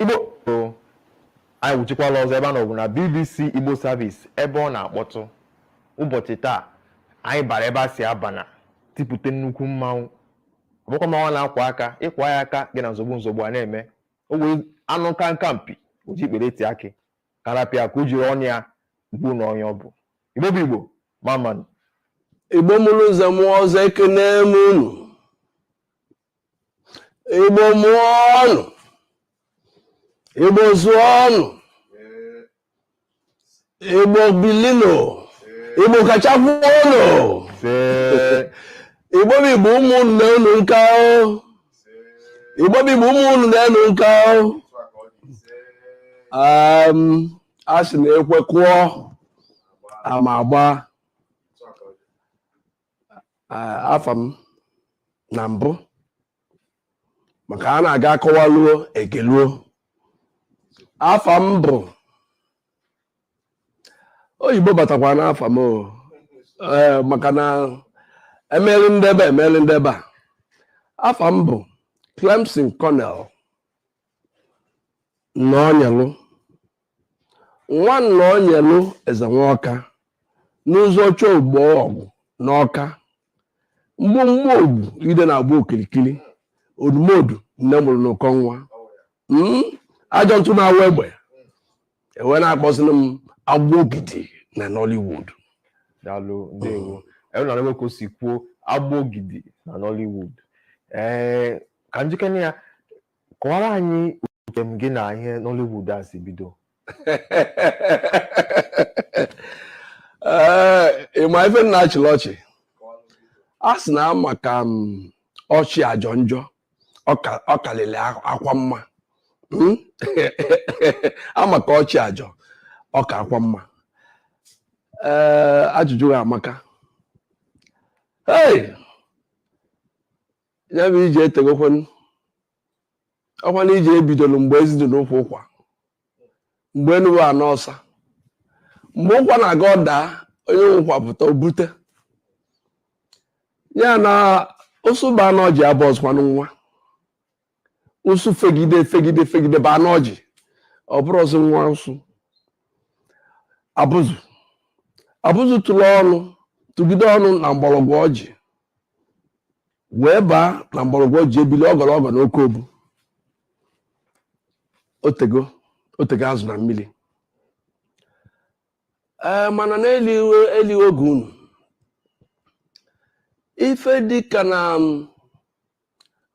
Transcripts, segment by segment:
igbo anyị wuchikwala ọzọ ebe a nọbụ na bbc igbo service ebe ọ na-akpọtụ ụbọchị taa anyị bara ebe a sị abana tipụta nnukwu mmanwụ ọ bụkwa mmanwụ a na-akwa aka ị kwaa ya aka gị na nzogbu nzogbu a na-eme ọ bụ anụ nka nka mpi o ji ikpere eti akị ka a rapụ ya ka o jiri ọnụ ya gwa unu onye ọ bụ igbo bụ igbo mma mma nụ igbo mụrụ eze mụọ ọzọ ekenee m unu Igbo mụọ nụ Igbo zụọ nụ Igbo bili nụ Igbo kachakwuo nụ Igbo bụ Igbo ụmụ unu nee unu nka o Igbo bụ Igbo ụmụ unu nee unu nka o a sị na ekwe kụọ ama agbaa afa m na mbụ maka na a ga-akọwaluo e geluo afa m bụ oyibo batakwa n'afa m eh, maka na emeli ndebe emeli ndebe a afa m bụ Clemson Cornell Nnonyelu nwa Nnonyelu eze nwaọka n'ụzọ chọ ugbo ọgwụ n'ọka mgbomgbo ogwu ide na-agba okirikiri odumodu nne mụrụ n'ụkọ nwa hmm? ajọ ntụ na-awa egbe e wee na-akpọzi m Agbogidi na Nollywood daalụ ndewo unu anụgo ka o si kwuo Agbogidi na Nollywood ee ka njikere ya kọwaara anyị njem gị na ihe Nollywood a si bido ee ị ma ife m na-achịlị ọchị a sị na ama ka ọchị ajọ njọ ọ karịrị akwa mma hmm? ama ka ọchị ajọ ọ ka akwa mma ee ajụjụ gị a amaka hey ya bụ ije etegokwanụ ọkwa na ije e bidoro mgbe ezi dị n'ukwu ụkwa mgbe enu bụ ana ọsa mgbe ụkwa na-aga ọ daa onye nwe ụkwa pụta o bute ya na ụsụ baa n'ọjị abụ ụsụkwanụ nwa ụsụ fegide fegide fegide baa n'ọjị ọ bụrụ ụsụ nwa ụsụ abụzụ abụzụ tụrụ ọnụ tụgide ọnụ na mgbọrọgwụ ọjị wee baa na mgbọrọgwụ ọjị e bili ogologo na oke obu otego otego azụ na mmiri ee mana n'eliwe eliwe oge unu ife dịka na m,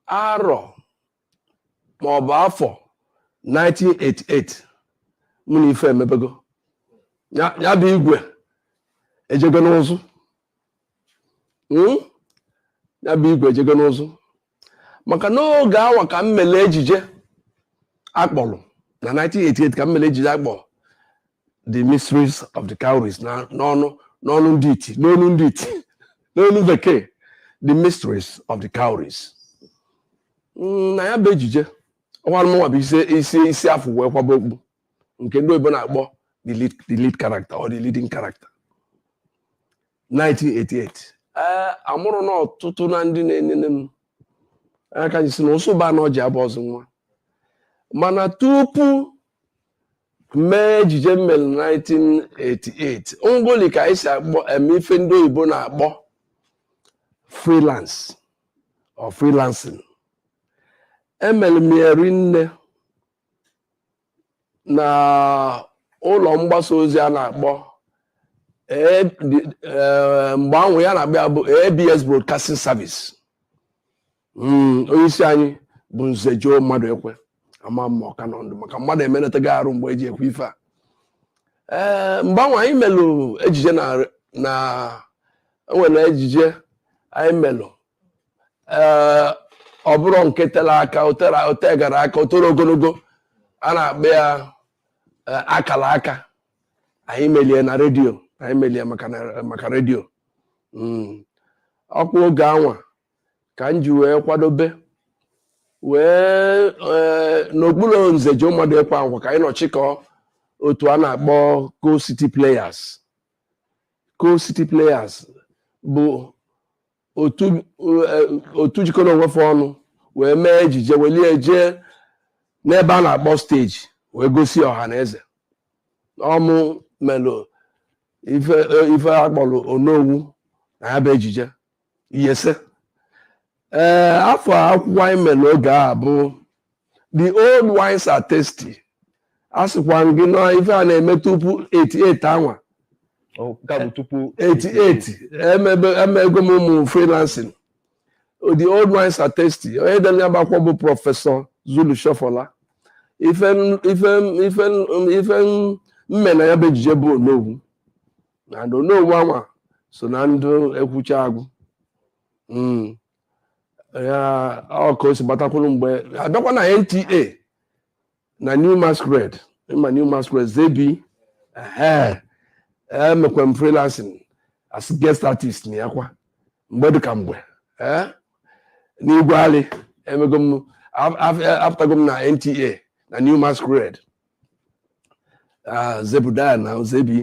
arọ ma ọ bụ afọ 1988 mụ na ife emebego ya ya bụ igwe ejego n'ụzụ Hmm? ya bụ igwe ejego n'ụzụ maka n'oge anwa ka m mere ejije a kpọrọ na 1988 ka m mere ejije a kpọrọ the mysteries of the cowries na n'ọnụ n'ọnụ ndị iti n'onu ndị iti n'onu bekee the mysteries of the cowries mm, na ya bụ ejije anwa mụnwa bụ isi isi isi a fụ wee kwaba okpu nke ndị oyibo na-akpọ the lead, the lead character or the leading character 1988 ee amụrụ na ọtụtụ na ndị na-enene m anya ka sị na ụsụba na ọji abụ ọzọ nwa mana tupu mee ejije m mere 1988 ngoli ka anyị si akpọ eme ife ndị oyibo na-akpọ freelance or freelancing emere m ya rinne na ụlọ mgbasa ozi a na-akpọ eh, mgbe anwa ihe a na-akpọ ya bụ ABS Broadcasting Service hmm, onye isi anyị bụ Nze Joe Mmaduekwe ama m ma ọ ka nọ ndụ maka mmadụ emenataghị arụ mgbe e ji ekwu ife a ee eh, mgbe anwa anyị melụ ejije na e nwere ejije anyị melụ ee eh, ọ bụrụ nke tere aka o tegara aka o toro ogologo a na-akpọ ya eh, akala aka anyị melụ ya na redio anyị melụ ya maka redio hmm. ọ kwa oge anwa ka m ji wee kwadobe wee ee, n'okpuru Nze Joe Mmaduekwe anwa ka anyị nọ chịkọọ otu a na-akpọ Coal City Players Coal City Players bụ otu eh, otu jikọrọ onwe fa ọnụ wee mee ejije welie jee n'ebe a na-akpọ stage wee gosi ọha na eze ọ mụ melụ ife ife a kpọrọ Onowu na ya bụ ejije yes ee eh, afa akwụkwọ anyị mere oge a bụ the old wines are tasty asịkwa m gị na ife a na-eme tupu 88 anwa 88 emebego m ụmụ freelancing the old wines are tasty onye dere ya bụ akwụkwọ bụ Professor Zulu Sofola ife m ife m ife m ife m mee na ya bụ ejije bụ Onowu na n'onwe anwa so na ndị ekwucha agụ hmm. ya ọ ka o si batakwuru mgbe a bịakwa na NTA na New Masquerade ị ma New Masquerade zebi emekwa m freelancing as guest artist na ya kwa mgbe dịka mgbe eh? n'igwe alị emego m apụtago m na NTA na New Masquerade ah, Zebrudaya na zebi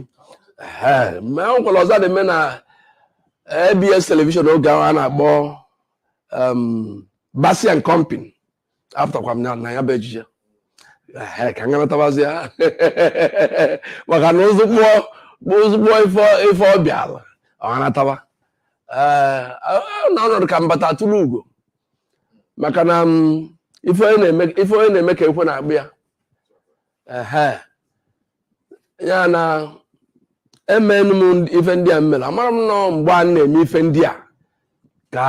ma e nwekwara ọzọ na-eme na ABS television oge ahụ a na-akpọ um, Basi and Company apụtakwa m na ya bụ ejije ka m ganatabazi ya maka na ozugbo ozugbo ife bịala ọhanataba eh, na ọnọdụ ka m bata atụrụ ugo maka na mm, ife onye na-eme ka ekwe na-akpọ ya ya na emenụ m ife ndị a m mere amara m na ọ mgbe a na-eme ife ndị a ka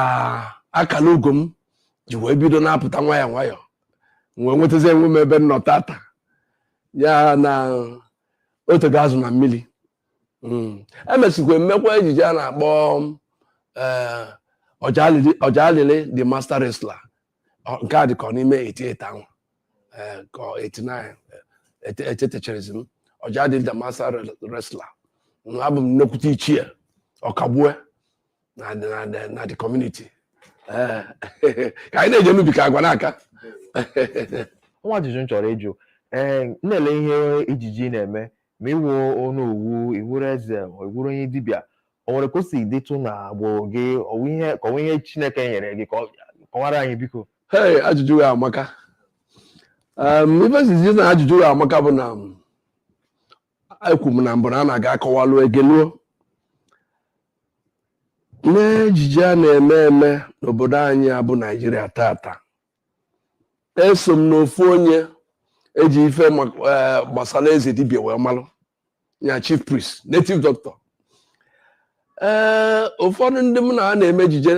akala ugo m ji wee bido na-apụta nwayọọ nwayọọ wee nwetazie onwe m ebe m nọ taata ya na o tego azụ na mmiri hmm. emesikwa m mekwa ejije a na-akpọ eh, Ọjadịlị the master wrestler nke a dị ka ọ n'ime 88 ahụ eh, ka 89 echetecharọzi m Ọjadịlị the master wrestler abụ m nnekwute ichie ọkagbue na the community eh, ka anyị na-eje n'ubi ka agwa na-aka o nwe ajụjụ m chọrọ ịjụ ee eh, na-ele ihe ejije ị na-eme ma ị wụ ọ na-awụ ị wụrụ eze ị wụrụ onye dibịa o nwere ka o si dịtụ na agbụrụ gị ọ wụ ihe ka ọ wụ ihe chineke nyere gị ka ọ- kọwara anyị biko Hey, ajụjụ a amaka um, ife m ji sị na ajụjụ a amaka bụ na um, ekwu m na mbụ na a na-aga akọwalụ egeluo n'ejije a na-eme eme n'obodo anyị a bụ naijiria taata eso m n'ofu onye e ji ife ma- eh, gbasara eze dibia wee malụ ya chief priest native doctor ee ụfọdụ ndị m na ha na-eme ejije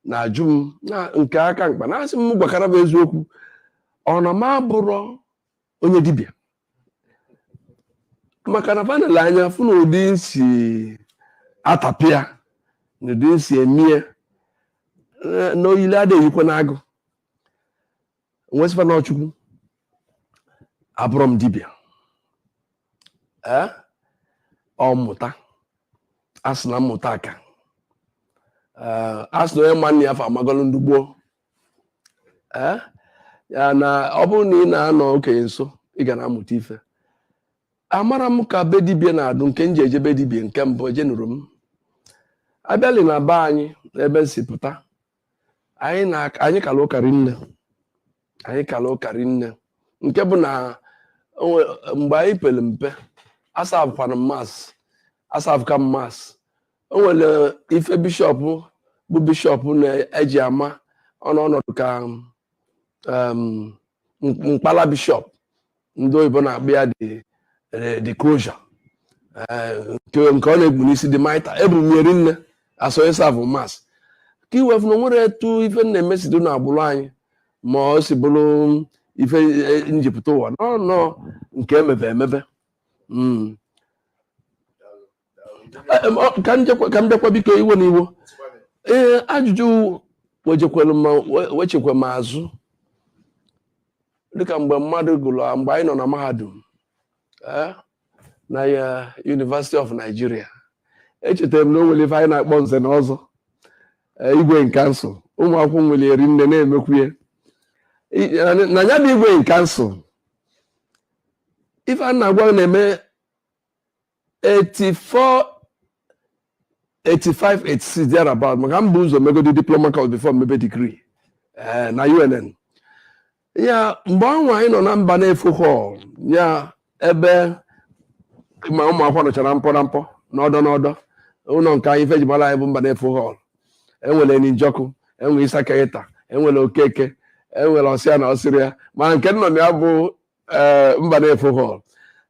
na-ajụ m na nke ka mkpa na-asị m gwakwara fa eziokwu ọ na m abụrọ onye dibịa maka na fa nele anya fụ na ụdị m si atapịa na ụdị m si eme ya na oyili ada eyikwa nwa agụ nwesịkwa na ọ Chukwu abụrọ m dibịa ee ọ mmụta a sị na mmụta aka ee a sị na onye ma nna ya fa amagolu ndị gboo ee ya na ọ bụrụ na ị na-anọ okenye nso ị ga na-amụta ife amarọ m ka be dibia na-adụ nke m ji eje be dibia nke mbụ ejenurọ m abịali na be anyị n'ebe m si pụta anyị na anyị kara ụka rinne anyị kara ụka rinne nke bụ na o nwe- mgbe anyị pere mpe asavụkwana mass asavụka mass o nwere ife bishọp bụ bishọp na-eji ama ọnụ ọnọdụ ka em, mk- mkpala bishọp ndị oyibo na-akpọ ya the the crozier nke nke ọ na-ekpu n'isi the mitre ebu m eri nne asọnye savụ mass ka i wee fụ na o nwere etu ife m na-eme si dụ na agbụrụ anyị ma o si bụrụ ife m ji pụta ụwa n'ọnọ nke emebe emebe ka m bịakwa biko ewena iwe ee ajụjụ wejekwere m wechikwa m azụ dịka mgbe mmadụ gụrụ mgbe anyị nọ na mahadum eh, na ya eh, University of Nigeria echetara m na o nwere ife anyị na-akpọ nze na ọzọ eh, igwe in council ụmụ akwụkwọ nwere eri nne na-emekwu ya na ya bụ igwe in council ife a m na-agwa na-eme 84 85 86 thereabout maka m bu ụzọ megodi diploma course before mebe degree eh, na UNN ya mgbe ahụ anyị nọ na Mbanefo hall ya ebe ma ụmụ akwụkwọ nọchara mkpọ na mkpọ n'ọdọ n'ọdọ ụnọ nke anyị ife e ji mara anyị bụ Mbanefo hall e nwere Eni Njoku e nwere Isa Kaita e nwere Okeke e nwere ọsịa na ọsịrị ya ma nke m nọ na ya bụ ee eh, Mbanefo hall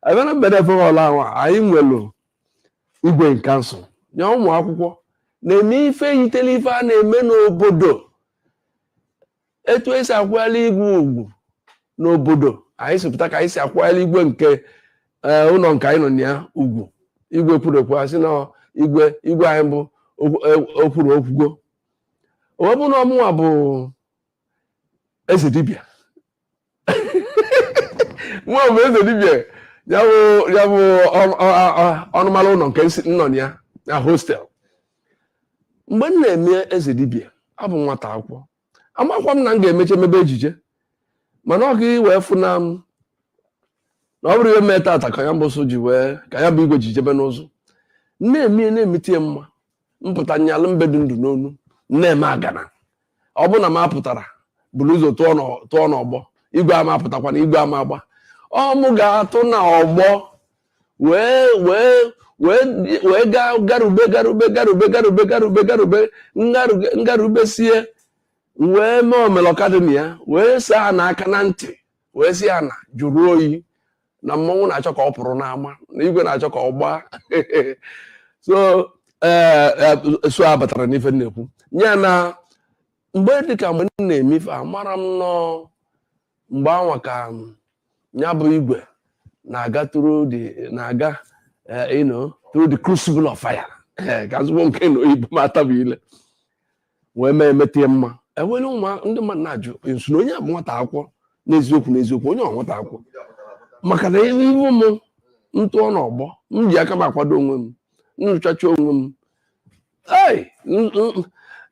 even na Mbanefo hall ahụ anyị nwere igwe in council ya ụmụ akwụkwọ na-eme ife yitere ife a na-eme n'obodo etu e si akwanyere igwe ugwu n'obodo anyị si pụta ka anyị si akwanyere igwe nke eh, ụnọ nke anyị nọ na ya ugwu igwe kwuru okwu a sị na igwe igwe anyị bụ okwuru e, okwugo o wee bụrụ na ọ mụnwa bụ eze dibịa nwa bụ eze dibịa ya bụ ya bụ ọnụmara ụnọ nke m nọ ya na hostel mgbe m na-eme eze dibịa abụ nwata akwụkwọ amakwa m na m ga-emecha mebe ejije mana ọ ka i wee fụ na m na ọ bụrụ ihe mee tata ka ya mbụsụ ji wee ka ya bụ igwe ji jebe n'ụzọ na-eme na-emete ya mma m pụta nyalụ mbe dụ ndụ n'onu na-eme agana ọ bụ na m apụtara buru ụzọ tụọ n'ọgbọ igwe ama apụtakwa na igwe ama agba ọ mụ ga-atụ na ọgbọ wee wee wee gaa garube garube garube garube garube garube m garubesie wee mee omelọka dị na ya wee saa n'aka na ntị wee sị ya na jụrụ oyi na mmọnwụ na-achọ ka ọ pụrụ n'ama na igwe na-achọ ka ọ gbaa so eh, eh, so a batara n'ife m na-ekwu ya na mgbe dịka mgbe m na-eme ife amara m na ọ mgbe anwa ka ya bụ igwe na-aga through na-aga eh, you know through the crucible of fire ka m sụkwuo nke na oyibo m atabie ile wee mee emeta ya mma enwere ụmụ ndị mmadụ na-ajụ m sị na onye a bụ nwata akwụkwọ n'eziokwu n'eziokwu onye ọ nwata akwụkwọ maka na ihe ihu m tụọ n'ọgbọ m ji aka m akwado onwe m nụchacha onwe m ee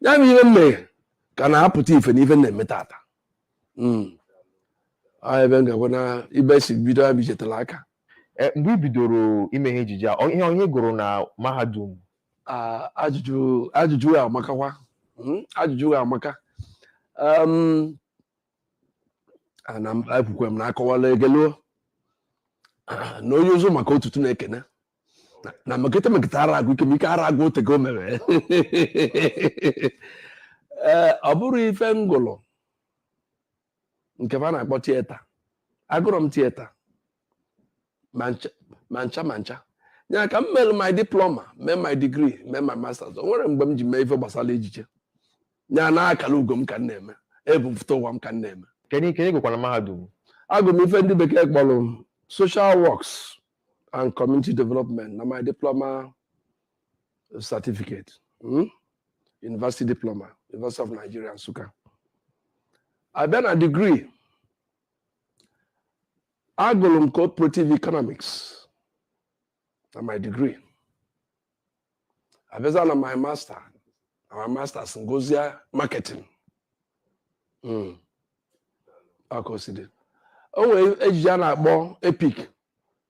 ya bụ ihe m mere ka na-apụta ife na ife m na-eme tata hmm. ebe m ga-agwa na ebe i si bido ya bijetara aka e, mgbe i bidoro ime ihe ejije ọ ihe ị gụrụ na mahadum ajụjụ ajụjụ amakakwa hmm, ajụjụ amaka ana m ekwukwe m na akọwala egeluo na onye ụzọ maka ọtụtụ na-ekene na mekete mekete ara agwụ ike ike ara agwụ o tego o mewe ee ọ bụrụ ife m gụlụ nke a na-akpọ theatre agụrọ m theatre ma ncha ma ncha ya ka m mere my diploma mee my degree mee my masters o nwerọ mgbe m ji mee ife gbasara ejije ya na akara ugo m ka m na-eme ebu m futa ụwa m ka m na-eme kedu nke ị gụkwara mahadum agụ m ife ndị bekee kpọrọ social works and community development na my diploma certificate hmm? university diploma University of Nigeria Nsukka a bịa na degree agụrụ m cooperative economics na my degree a bịazie na my master na my masters m gụzie marketing hmm. akosidi o nwere ejije a na-akpọ epic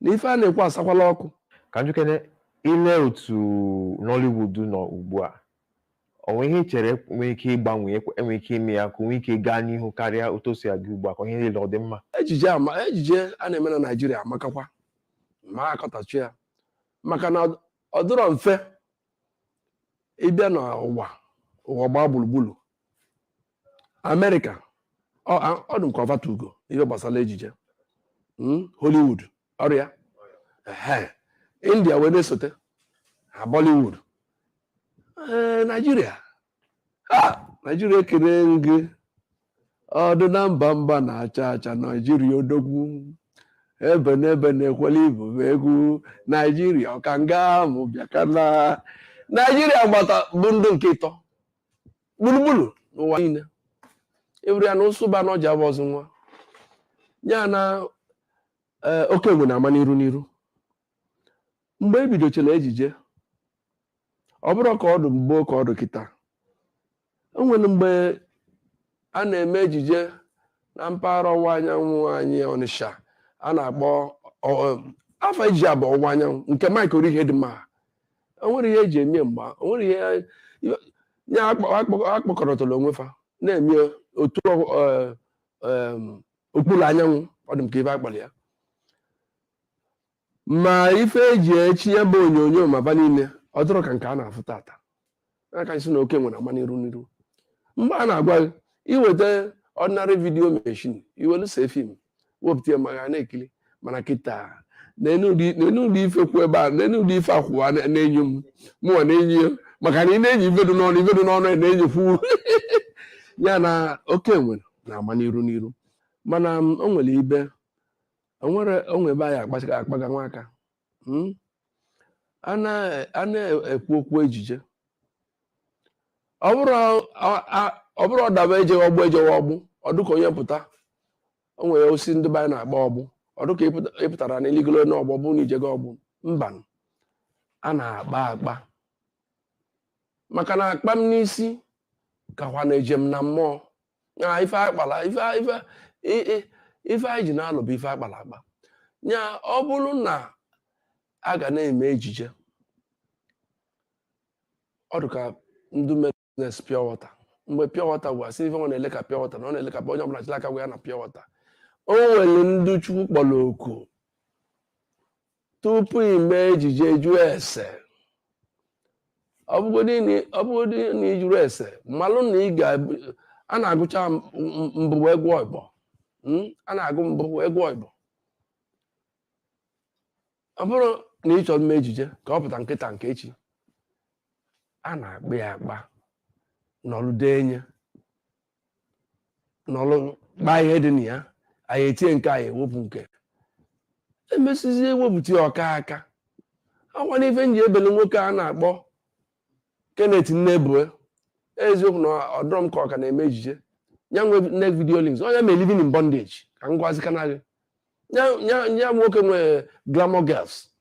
na ife a na-ekwu asakwala ọkụ ka m jụkene i lee otu Nollywood nọ ugbu a o nwere ihe i chere e nwere ike ịgbanwe e nwere ike ime ya ka o nwee ike gaa n'ihu karịa otu o si aga ugbu a ka ihe niile ọ dị mma ejije ama ejije a na-eme na Naịjirịa amakakwa mma a kọtachie ya maka na ọ dịrọ mfe ịbịa n'ụwa ụwa gbaa gburugburu amerịka ọ dị m ka ọ fa tu ugo n'ihe gbasara ejije hmm? hollywood ọrịa india wee na-esote ha bollywood naijiria naijiria ekele gị ọdụ na mba mba na-acha acha naijiria odogwu ebenebe na-ekwela ibu egwu naijiria ọkanga mụ bịakana naijiria gbata bụ ndị nke ịtọ gburugburu n'ụwa niile ịbụrụ ya na ụsụ ba n'ọjị aba ụzụ nwa ya na eh, oke enwe na-ama n'iru n'iru mgbe e bidochara ejije ọ bụrọ ka ọ dụ mgbo ka ọ dụ kịta o nwere mgbe a na-eme ejije na mpaghara ọwụwa anyanwụ anyị ọnịsha a na-akpọ ọ- ọ- afa ejije a bụ ọwụwa anyanwụ nke Mike Orihedịmma o nwere ihe eji eme mgba o nwere ihe ya akpọkọrọtara onwe fa na-eme otu eh, em, okpuru anyanwụ ọ dị m ka ife akpọrọ ya ma ife eji echi ya bụ onyonyo ma fa niile ọ dịrọ ka nke a na-afụ tata a ka sị na oke enwe na-ama n'iru n'iru mgbe a na-agwa gị i weta ordinary video machine i welu see fim wepụta ya ma ga na-ekiri mana kịta neenụ ụdị ife kwụ ebe a neenụ ụdị ife a kwụwa na-enyo m mụwa na-enyo ya maka na ị na-enyo ife dị n'ọnụ ife dị n'ọnụ ya na-enyokwu ya na oke enwe na-ama n'iru n'iru mana o nwere ebe o nwere o nwe ebe anyị ka akpaga nwa aka hmm? a na-ekwu okwu ejije ọ bụrọ ọ daba e jewe ọgbọ e jewe ọgbọ ọ dụ ka onye pụta o nwere osi ndị be anyị na-akpa ọgbọ ọ dụ ka ị pụtara na i ligolo n'ọgbọ ọ bụ na i jego ọgbọ mba a na-akpa akpa maka na akpa m n'isi kakwa na eje m na mmụọ na ife a kpala ife ife i- i- ife anyị ji na-alụ bụ ife a kpala akpa ya ọ bụrụ na a ga na-eme ejije ọ dị ka ndị mere business pure water mgbe pure water gwara a sị na ife nwa na-eleka pure water na ọ na-eleka onye ọbụla chịla aka gwa ya na pure water o nwere ndị chukwu kpọrọ oku tupu i mee ejije jụọ ese ọ bụgodị na- ọ bụgodị na ị jụrọ ese malụ na ị ga a na-agụcha m- m- mbụ wee gụọ ịbụọ Mm, a na-agụ mbụ wee gụọ ịbụọ ọ bụrụ na ị chọrọ ime ejije ka ọ pụta nke taa nke echi a na-akpa ya akpa n'ọlụ dị enye nọlụ gbaa ihe dị na ya anyị etie nke anyị ewepụ nke emesizie ewepụta ya ọ ka aka akwa n'ife m ji ebele nwoke a na-akpọ Kenneth Nnebue eziokwu na ọ dụrụ m ka ọ ka na-eme ejije ya nwe NEK Video Links ya nwe living in bondage ka m gwazi kana gị Ya- ya- ya nwoke nwe glamour girls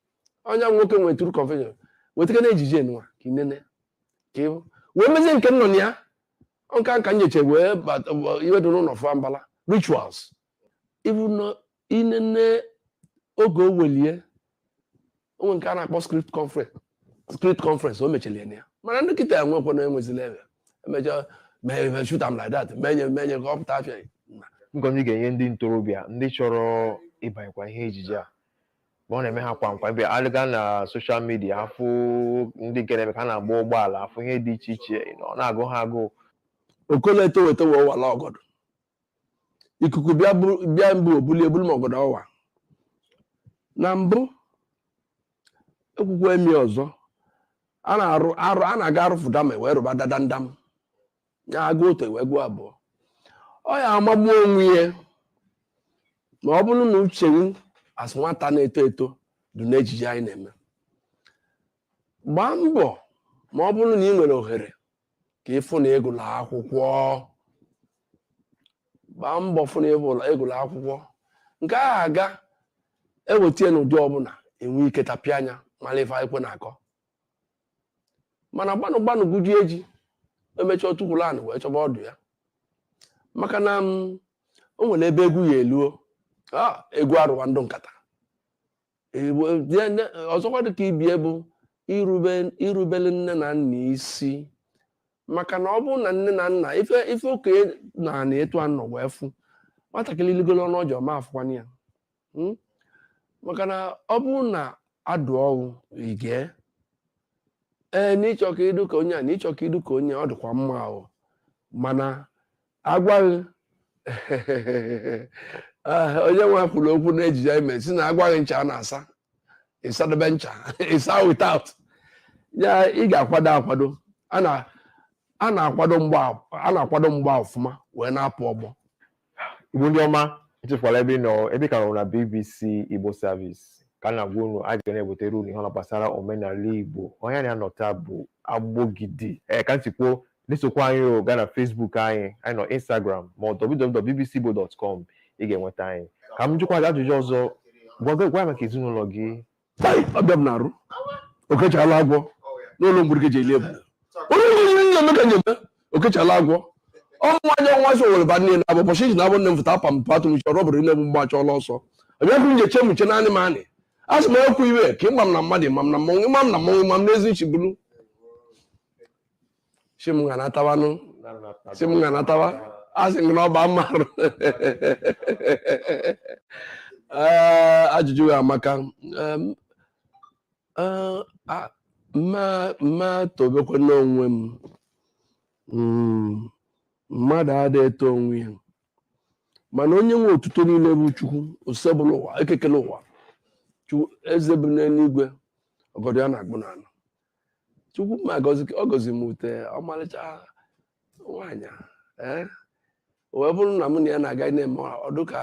ya nwoke nwe true confession wetaka na ejije nwa ka inene ka ịbụ wee mezie nke m nọ na ya nka nka nyeche wee bata wee- iwe dị n'ụlọ fụa mbala rituals ibu na inene oge o welie onwe nke a na-akpọ script conference script conference o mechiri anya mana ndị kịta enwekwa na enwezila ebe emecha mee ebe shoot am like that menye menye ka ọ pụta afịa nkuzi ị ga-enye ndị ntorobịa ndị chọrọ ịbanyekwa ihe ejije a mgbe ọ na-eme ha kwa nkwa bịa alịga na soshal midia afụ ndị na-eme ka ha na-agba ụgbọala afụ ihe dị iche iche you know, ọ na-agụ ha agụụ okolo etoro eto wee wala ọgọdọ ikuku bịa buru- bịa mbụ o bulie buru ma ọgọdọ ọ wa na mbụ ekwukwe mi ọzọ a na-arụ arụ a na-aga arụfụ dama wee rụba dadandam ya a gụọ otu e wee gụọ abụọ ọ ya-amagbu onwe ya ma ọ bụrụ na uche m asị nwata na-eto eto dị n'ejije anyị na-eme gbaa mbọ ma ọ bụrụ na ị nwere ohere ka ị fụ na ị gụlụ akwụkwọ gbaa mbọ fụ na ị gụlụ akwụkwọ nke ahụ ga-eweta n'ụdị ọbụla i nwee ike tapịa anya mara ife e kwo na-akọ mana gbanụ gbanụ guji eji emechaa o tukwulu anị wee chọba ọdụ ya maka na mm, o nwere ebe egwu ya-eluo ah, egwu arụwa ndụ nkata Egwu- die- ne- ọzọkwa dị ka ibe ya bụ irube irubele nne na nna isi maka na ọ bụrụ na nne na nna ife ife okenye n'ana etu a nọ wee fụ nwatakịrị ligolo n'ọjị ọ ma afụkwa ya hmm? maka na ọ bụrụ na a dụọ gị ị gee ee na ị chọ ka ị dụ ka onye a na ị chọ ka ị dụ ka onye ọ dịkwa mma o mana agwaghị ah, onye nwa kwuru okwu na ejije anyị mere si na agwaghị ncha a na-asa ị sadebe ncha ị saa without ya ị ga-akwado akwado a na-akwado mgba a na-akwado mgba ọfụma wee na-apụ ọgbọ Igbo ndị ọma echefukwala ebe ị nọ ebe ka nọ na BBC Igbo Service ka m na-agwa unu anyị ga na-ebutere unu ihe ọbụla gbasara omenala Igbo onye m na ya nọ taa bụ Agbogidi ee ka m si kwuo na-esokwa anyị o gaa na Facebook anyị anyị nọ Instagram ma www.bbcigbo.com ị ga-enweta anyị ka m jụkwa gị ajụjụ ọzọ gwa gị- gwa anyị maka ezinụlọ gị ọbịa m na-arụ okechala agwọ n'olu mgbirike ji eli ebule onye nwere nna m ka nyeme okechala agwọ ọnwa anya nwa so were ba nne na abụ ụbọchị iji na abụ nne m fụta apa m patụ m chọrọ bụrụ nne m mgbe achọọla ọsọ abịakwu m ji eche m nche naanị m anị a sị m ekwu iwe ka ịma m na mmadụ ịma m na mmụọ ịma m na mmụọ ịma m n'ezi nchibulu si m ga natawanụ si m ga natawa a sị m gị na ọ bụ amarụ Ee, ajụjụ gị amaka Em, eh, a- m ma m ma tobekwanụ onwe m Mm, mmadụ ada eto onwe ya mana onye nwe otuto niile bụ chukwu osebụlụwa eke kelụ ụwa chukwu eze bi n'eluigwe ọgọdọ ya na-akpụ n'ala chukwu ma agọzi ọ gọzi m ute ọmarịcha nwaanyị ee wee bụrụ na mụ na ya na-aga na-eme ọ dụ ka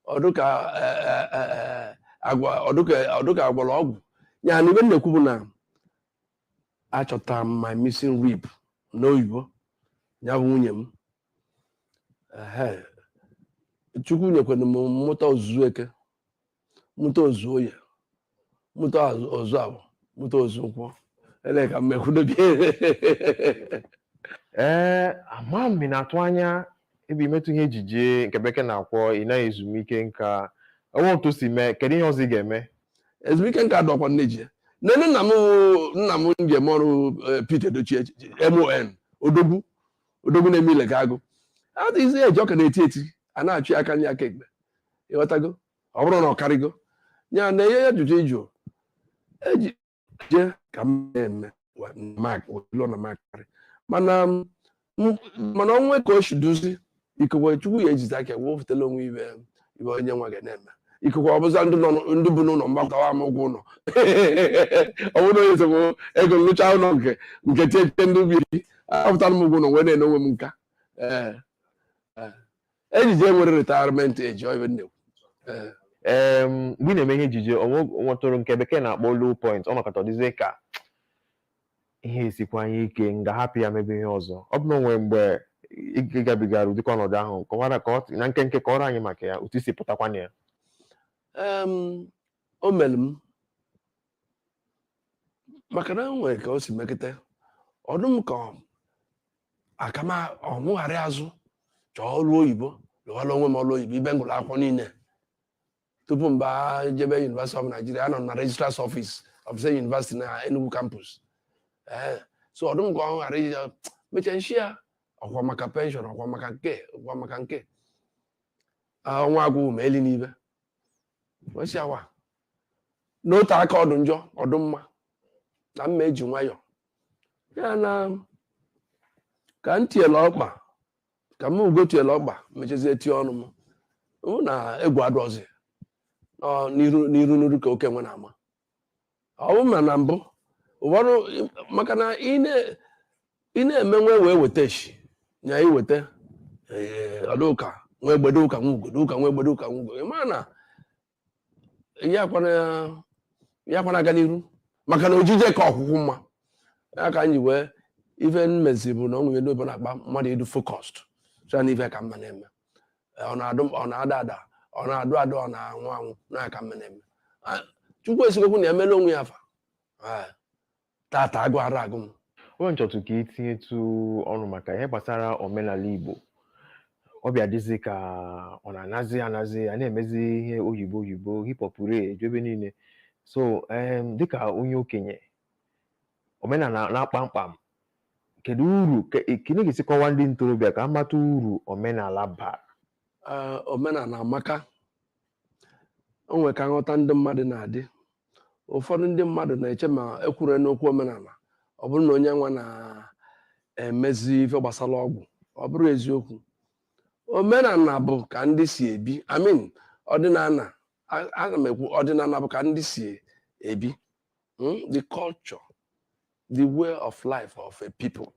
ọ dụ ka e, e, e, e, agwa ọ dụ ka ọ dụ ka a gwọrọ ọgwụ ya na ife m na-ekwu bụ na achọtara m my missing rib n'oyibo ya bụ nwunye m Ehe. chukwu nyekwanụ m m mụta o zuo eke mụta o zuo oye mụta o zuo afọ mụta o zuo nkwọ ele ka mmekwudobi ee ama m na-atụ anya ebe imetụ ihe ejije nke bekee na-akpọ ịna ezumike nka o nwee otu o si mee kedu ihe ọzọ ị ga-eme ezumike nka adọkwa n'ejije nene nna m nna m nye m ọrụ eh, Pete Edochie MON odogwu odogwu na-eme ile ka agụ adịghịzi eji ọ ka na-eti eti a na-achọ ya aka nni aka ekpe ịghọtago ọ bụrụ na ọ karịgo ya na ihe ya jụjụ ịjụ ejije ka m na-eme wa- na mak ụlọ na m akarị mana m- m- mana o nwee ka o si duzi ikekwe chukwu ya ejizi aka wee wepụtala onwe ife ife onye nwa ga na-eme ikekwe ọ bụzịa ndị nọ n- ndị bi n'ụlọ m gbakọtawa m ụgwọ ụlọ ọ bụrụ onye sogbu ego nlụcha ụlọ nke nke tietie ndị ubi apụtara m ụgwọ ụlọ wee na-ene onwe m nka ee ejije nwere retirement age ọ ife m na-ekwu Eh, Ee, mgbe ị na-eme ihe ejije o nwe nwetụrụ nke bekee na-akpọ low point o mekata dịzie ka ihe esikwa anyị ike m ga-ahapụ ya mebe ihe ọzọ ọ bụ na o nwere mgbe ị ị gabigara ụdịka ọnọdụ ahụ kọwara ka ọ- na nkenke kọọrọ anyị maka ya otu i si pụtakwa na ya em, o mere m maka na o nwere ka o si mekata ọ dụ m ka aka m ọ mụ ghara azụ chọọ ọrụ oyibo lụwara onwe m ọrụ oyibo ebe m gụlụ akwụkwọ niile tupu m bịa jebe University of Nigeria anọ m na registrar's office of same University na Enugu campus ee so ọ dụ m ka ọ ghara ije mecha nshi ya ọkwa maka penshọn ọkwa maka nke ọkwa maka nke ọnwa agwụ ma eli n'ibe wesị awa n'otu aka ọ dụ njọ ọ dụ mma na mma eji nwayọọ ya na ka m tiela ọkpa ka m ugo tiela ọkpa mechazie tie ọnụ m hụ na egwu adọzi nọ n'iru n'iru n'iru ka oke nwe na-ama ọ bụ ma na mbụ ụfọdụ maka na ị na- ị na-eme nwe wee weta eshi nya iweta ọ dụ ka nwa egbe dụ ka nwa ugo dụ ka nwa egbe dụ ka nwa ugo ị ma na ya kwana ya kwana aga n'iru maka na ojije ka ọkwụkwụ mma ya ka m ji wee ife m mezi bụ na ọ nwere ndị obodo na-akpa mmadụ ịdụ focused sịa na ife ka m ma na-eme ọ na-adụ ọ na-ada ada ọ na-adụ adụ ọ na-anwụ anwụ nya ka m ma na-eme Ah, chukwu eziokwu na emela onwe ya afa Ah, tata agụ ara agụ m ebe m chọtụ ka i tinyetụ ọnụ maka ihe gbasara omenala Igbo ọ bịa dịzi ka ọ na-anazi anazi a na-emezi ihe oyibo oyibo hip hop re eju ebe niile so em, dịka onye okenye omenala kpamkpam kedu uru ke- kedu ga-esi kọwa ndị ntorobịa ka a mata uru omenala bara Ee, omenala amaka o nwere ka nghọta ndị mmadụ na-adị ụfọdụ ndị mmadụ na-eche ma e kwuru n'okwu omenala ọ bụrụ na onye nwa na-emezi ife gbasara ọgwụ ọ bụrọ eziokwu omenala bụ ka ndị si ebi I mean ọdịnala ana m ekwu ọdịnala bụ ka ndị si ebi hmm? the culture the way of life of a people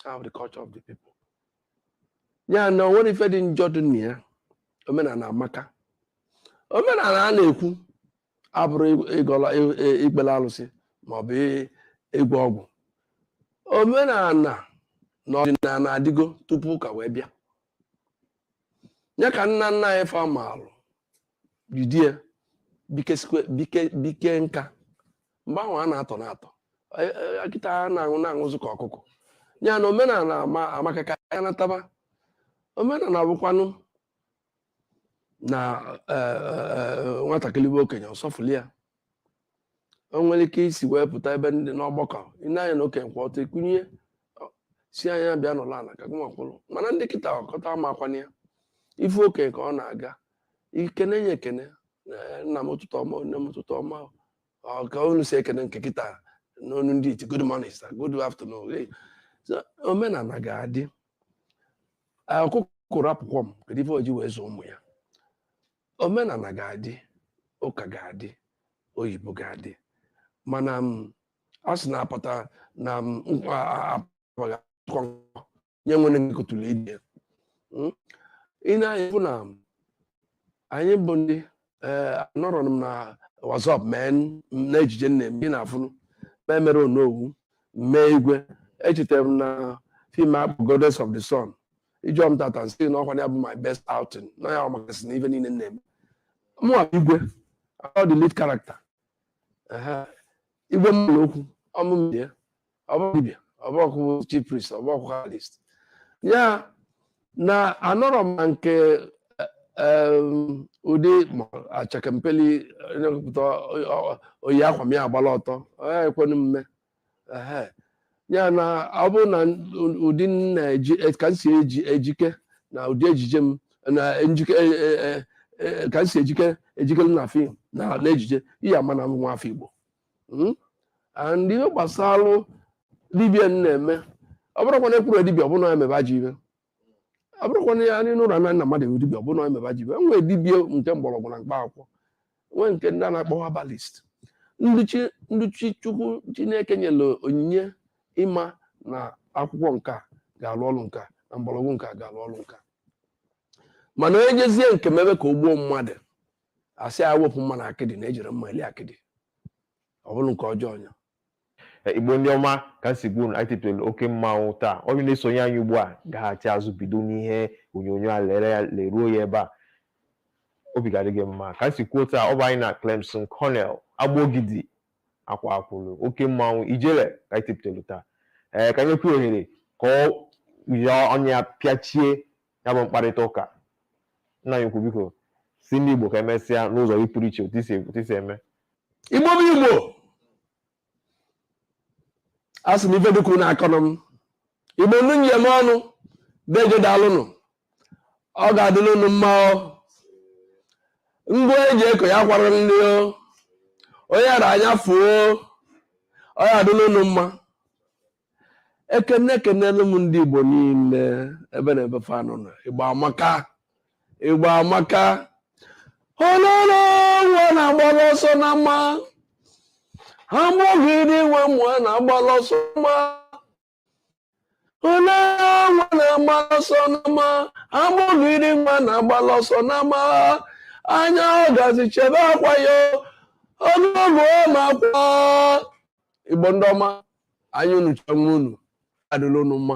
how the culture of the people ya na o nwerọ ife dị njọ dị na ya omenala amaka omenala a na-ekwu abụrọ ịgọlụ ikpele alụsị maọbụ ịgwọ ọgwụ omenala na ọdịnala adịgo tupu ụka wee bịa ya ka nna nna anyị fa maalụ jidie bike nka mgbe ahụ a na-atọ na-atọ akịta a na-aṅụ na-aṅụzụ ka ọkụkọ ya na omenala amakaka ya nataba omenala bụkwanụ na eh, eh, eh, nwatakịrị fụ okenye ọ sọfụlụ ya o nwere ike i si wee pụta ebe ndị n'ọgbakọ i nee anya na okenye kwụ ọtọ i kunie sị ya bịa nọlụ ana ka gịnwa kwụrụ mana ndị kịta kịta amakwana ya ị fụ okenye ka ọ na-aga i kenee ya ekene eh, nna m ụtụtụ ọma nne m ụtụtụ ọma ọ ka unu si ekene nke kịta n'onu ndị iti good morning sir good afternoon hey. So, omenala ga-adị ọkụkọ rapụ kwọm kedu ife o ji wee zụọ ụmụ ya omenala ga-adị ụka ga-adị oyibo ga-adị mana m a sị na-apụta na m nkwa apụghị akụkọ nke onye nwere nkụtụrụ ide i nee anya fụ na anyị bụ ndị ee anọrọ m na WhatsApp mee n- na ejije m na-eme ị na-afụnụ mee mere onowu mee igwe echetara m na film a kpọ goddess of the sun ị jụọ m tata m sị na ọ kwa ya bụ my best outing na ọ ya makasị na ife niile m na-eme mụnwa bụ igwe ọ the lead character Ehe. igwe mmadụ okwu ọ mụ mee ya ọ bụ dibịa ọ bụkwu chief priest ọ bụkwu herbalist ya na anọrọ m na nke ụdị ma achakempeli nyepụta o yi akwa m ya agbala ọtọ ekwenu mme ya na ọ bụrụ na ụdị na-eji e, ka m si eji ejike na ụdị ejije m na njike e, e, ka m si ejike ejikelu na film na ejije ị ya-ama na nwa afọ Igbo hmm? and ihe gbasara dibia na-eme ọ bụrọkwa na e kwuru dibia ọ bụ na ya mebe ajọ ife ọ bụrọkwa na ya nụlụ na nna mmadụ wụ dibia ọ bụ na ya mebe ajọ ife e nwere dibia nke mgbọrọgwụ na mkpa akwụkwọ nwee nke ndị a na-akpọ herbalist ndị chi chukwu chineke nyere onyinye ịma na akwụkwọ nke a ga-alụ ọrụ nke a na mgbọrọgwụ nke a ga-alụ ọrụ nke a mana onye jezie nke mebe ka o gbuo mmadụ a sị e wepụ mma na akịdị na e jiri mma eli akịdị ọ bụrụ nke ọjọọ ọnya Eh, igbo ndị ọma ka m si gwa unu anyị tetara oke mmanwụ taa onye na-esonye anyị ugbu a gaghachi azụ bido n'ihe onyonyo a lee ya leruo ya ebe a obi ga-adị gị mma ka m si kwuo taa ọ bụ anyị na Clemson Cornel agbogidi akwaa akwụrụ oke mmanwụ ijele ka anyị tetara taa ee ka m nyekwuo ohere ka o ji ọnụ ya pịachie ya bụ mkparịta ụka nna anyị ukwu biko sị ndị Igbo ka emesịa n'ụzọ gị pụrụ iche otu i si otu i si eme igbo bụ igbo asị m ife dịka unu akọna m igbo ndị m ji eme ọnụ deeje daalụnụ ọ ga-adịla unu mma o ngwa eji eko ya kwara nri o onye ara anya fuo ọ ga-adịla unu mma ekene ekenelu m ndị igbo niile ebe na ebe fa nọ na igbo amaka igbo amaka ololo nwa na-agbala ọsọ n'ama ha mụghị dị nwe mụọ na-agbala ọsọ n'ama ole nwa na-agbala ọsọ n'ama amụghịrị nwa na-agbala ọsọ n'ama anya ọgazi chebe akwa ya ọnụọgụ ma akwa igbo ndị ọma anyị unu chọọ nwa unu adịla unu mma